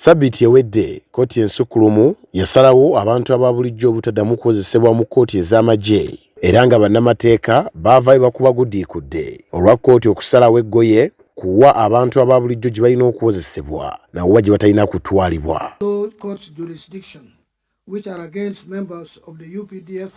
Sabiiti ewedde, kkooti ensukkulumu yasalawo abantu aba bulijjo obutaddamu kukozesebwa mu kkooti ez'amagye era nga bannamateeka baavaayo bakubagudiikudde olwa kkooti okusalawo eggoye ku wa abantu aba bulijjo gye balina okuwozesebwa na wa gye batalina kutwalibwa. which are against members of the UPDF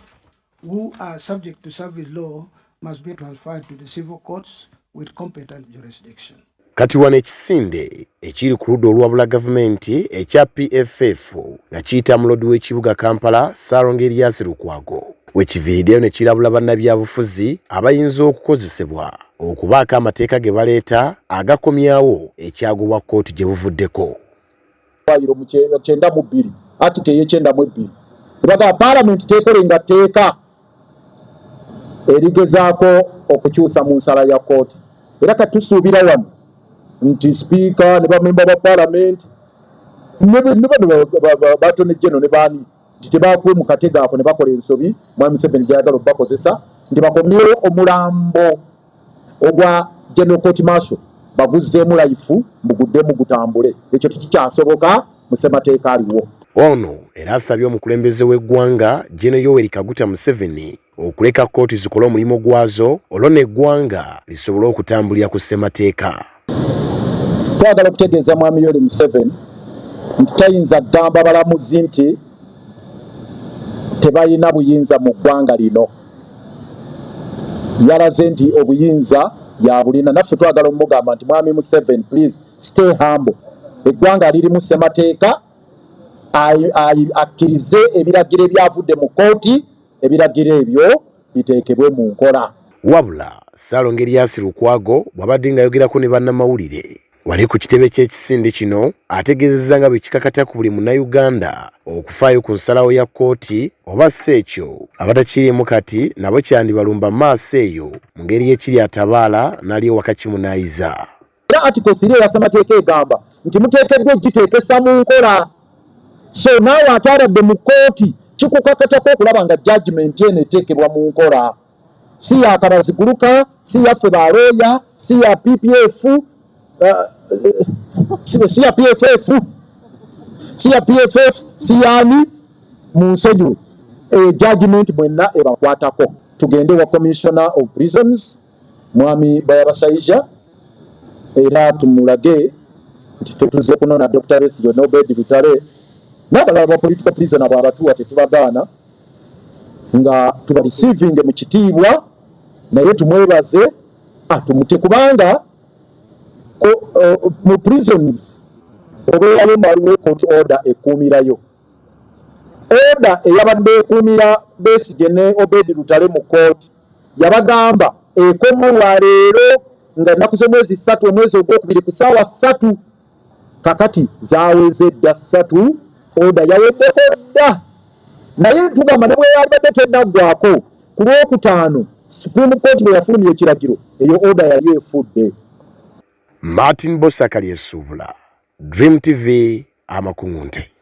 who are subject to service law must be transferred to the civil courts with competent jurisdiction. Kati wano ekisinde ekiri ku ludda olwabula gavumenti ekya PFF nga kiyita mulodi w'ekibuga Kampala Ssaalongo Erias Lukwago we kiviiriddeyo ne kirabula bannabyabufuzi abayinza okukozesebwa okubaako amateeka ge baleeta agakomyawo ekyagobwa kkooti gye buvuddeko. eddwaliro mu kyenda mu bbiri atika eyekyenda mu ebbiri ebagaba palamenti tekolenga tteeka erigezaako okukyusa mu nsala ya kooti era kati tusuubira wano nti sipiika ne bamemba ba palamenti batone jeno ne baani nti tebakuwe mu katego ako ne bakola ensobi mwami museveni gyayagala obubakozesa nti bakomyewo omulambo ogwa General Court Marshal baguzzeemu layifu muguddemu gutambule ekyo tikikyasoboka mu ssemateeka aliwo. Ono era asabye omukulembeze w'eggwanga Gen Yoweri Kaguta Museveni okuleka kkooti zikole omulimu gwazo olwo n'eggwanga lisobole okutambulira ku ssemateeka. Twagala okutegeeza Mwami Yoweri Museveni nti tayinza kugamba balamuzi nti tebalina buyinza mu ggwanga lino. Yalaze nti obuyinza yabulina. Naffe twagala omugamba nti Mwami Museveni, please stay humble. Eggwanga lirimu ssemateeka akkirize ebiragiro ebyavudde mu kkooti. ebiragiro ebyo biteekebwe mu nkola. Wabula Ssaalongo Erias Lukwago bw'abadde ng'ayogerako ne bannamawulire wali ku kitebe ky'ekisinde kino ategeezezza nga bwe kikakata ku buli Munnayuganda okufaayo ku nsalawo ya kkooti oba si ekyo abatakiriimu kati nabo kyandibalumba maaso eyo mu ngeri y'ekiri atabaala n'ali ewaka kimunaayiza. era article 3 eya ssemateeka egamba nti muteekeddwa okugiteekesa mu nkola so naawe ate abadde mu kkooti kikukakatako okulaba nga judgment eno eteekebwa mu nkola si yakabaziguluka si yaffe balooya si ya ppf uh, uh, si ya pff si ya pff si yani mu nsonyiwe eh, judgment mwenna ebakwatako tugende wa commissioner of prisons mwami Bayabasaija era tumulage nti ffe tuzze kunona Dr. Besigye n'Obedi Lutale n'abalala ba political prisoner bw'abatuwa tetubagaana nga tuba receiving mu kitiibwa naye tumwebaze atumute kubanga eh, mu prisons obeerayo mwaliwo court order ekuumirayo order eyabadde ekuumira Besigye ne Obedi Lutale mu kooti yabagamba ekomo lwa leero nga ennaku z'omwezi ssatu omwezi ogwokubiri ku saawa ssatu kakati zaweze dda ssatu oda yaweddeko dda naye ntugamba ne bweyabadde tenaggwako ku lwokutaano supreme court bwe yafulumya ekiragiro eyo oda yali efudde martin bosakali esuubula dream tv amakuŋunte